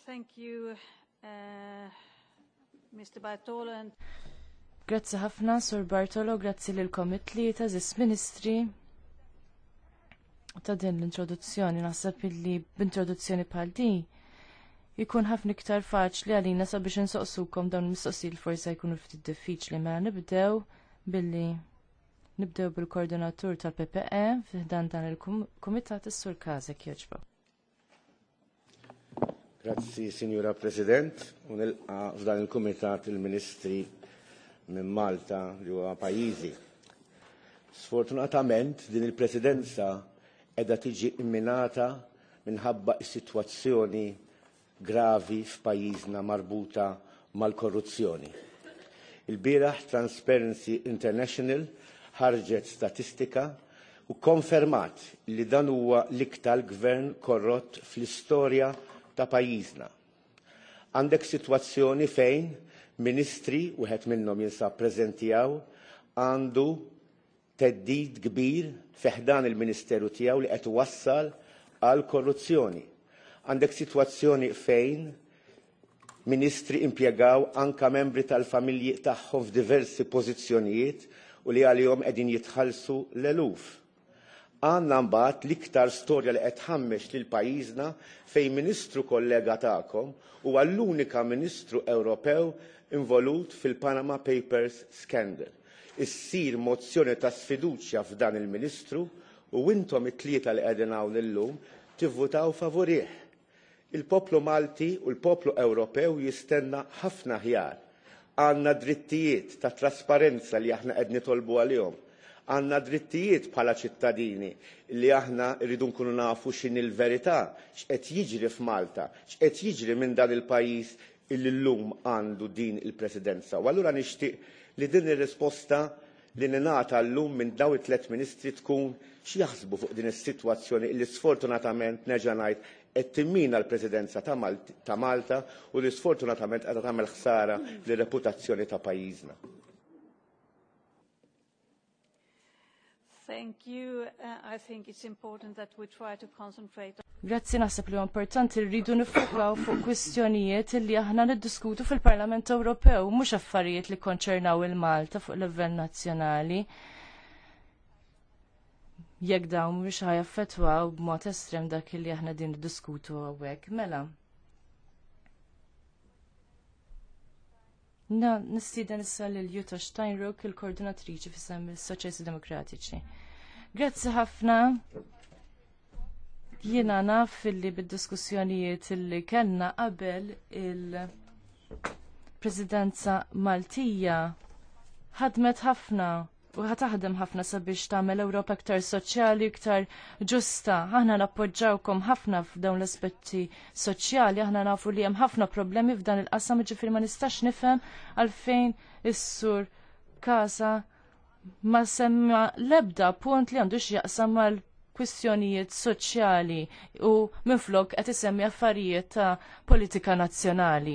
Thank you, uh, Mr. Bartolo. Grazzi ħafna, Sur Bartolo, grazzi lil komitli ta' zis ministri ta' din l-introduzzjoni. Naħseb illi b'introduzzjoni bħal di jkun ħafna iktar faċli għalina sabiex insoqsukom dawn il-mistoqsil forsa jkunu ftit diffiċli mela nibdew billi Nibdew bil-koordinatur tal-PPE fiħdan dan il-Kumitat is-Sur Kazek joġba. Grazzi, Signora President, u nilqa f'dan il-Kumitat il-Ministri minn Malta li huwa pajjiżi. Sfortunatament din il-Presidenza qiegħda tiġi imminata minħabba s-sitwazzjoni gravi f'pajjiżna marbuta mal-korruzzjoni. Il-bieraħ Transparency International ħarġet statistika u konfermat li dan huwa l-iktar gvern korrott fl-istorja ta' pajjiżna. Għandek sitwazzjoni fejn ministri, wieħed minnhom jinsab preżenti hawn, għandu theddid kbir fi ħdan il-Ministeru tiegħu li qed iwassal għal korruzzjoni. Għandek sitwazzjoni fejn ministri impjegaw anka membri tal-familji tagħhom f'diversi pożizzjonijiet u li għalihom qegħdin jitħallsu l-eluf. Għandna mbagħad l-iktar storja li qed tħammex lil pajjiżna fejn ministru kollega tagħkom huwa l-unika ministru Ewropew involut fil-Panama Papers scandal. issir mozzjoni ta' sfiduċja f'dan il-Ministru u intom it-tlieta li qegħdin hawn illum tivvutaw favurih. Il-poplu Malti u l-poplu Ewropew jistenna ħafna aħjar. Għandna drittijiet ta' trasparenza li aħna qed nitolbu għalihom. Għandna drittijiet bħala ċittadini li aħna rridu nkunu nafu x'inhi l-verità, x'qed jiġri f'Malta, x'qed jiġri minn dan il-pajjiż illi llum għandu din il-Presidenza. U allura nixtieq li din ir-risposta li ningħata llum minn daw it-tliet ministri tkun x'jaħsbu fuq din is-sitwazzjoni li sfortunatament nerġa' ngħid qed timmina l-Presidenza ta' Malta u li sfortunatament qed tagħmel ħsara lir-reputazzjoni ta' pajjiżna. Thank you. Uh, I think it's important that we try to concentrate Grazzi naħseb li importanti rridu nifokaw fuq kwistjonijiet li aħna niddiskutu fil-Parlament Ewropew, mhux affarijiet li konċernaw il-Malta fuq livell nazzjonali. Jekk dawn mhux ħajaffetwaw b'mod estrem dak li aħna din niddiskutu hawnhekk. Mela, Na, nistiden issa lil Jutta Steinrock, il-koordinatriċi fissam il-Soċjalisti Demokratiċi. Grazzi ħafna. Jiena naf li bid-diskussjonijiet li kellna qabel il-Presidenza Maltija ħadmet ħafna u ħataħdem ħafna sabiex tagħmel Ewropa iktar soċjali, iktar ġusta. Aħna nappoġġawkom ħafna f'dawn l-aspetti soċjali, aħna nafu li hemm ħafna problemi f'dan il-qasam ġifieri ma nistax nifhem għalfejn is-sur Kasa ma semma lebda punt li għandu x'jaqsam mal kwistjonijiet soċjali u minflok qed isemmi affarijiet ta' politika nazzjonali.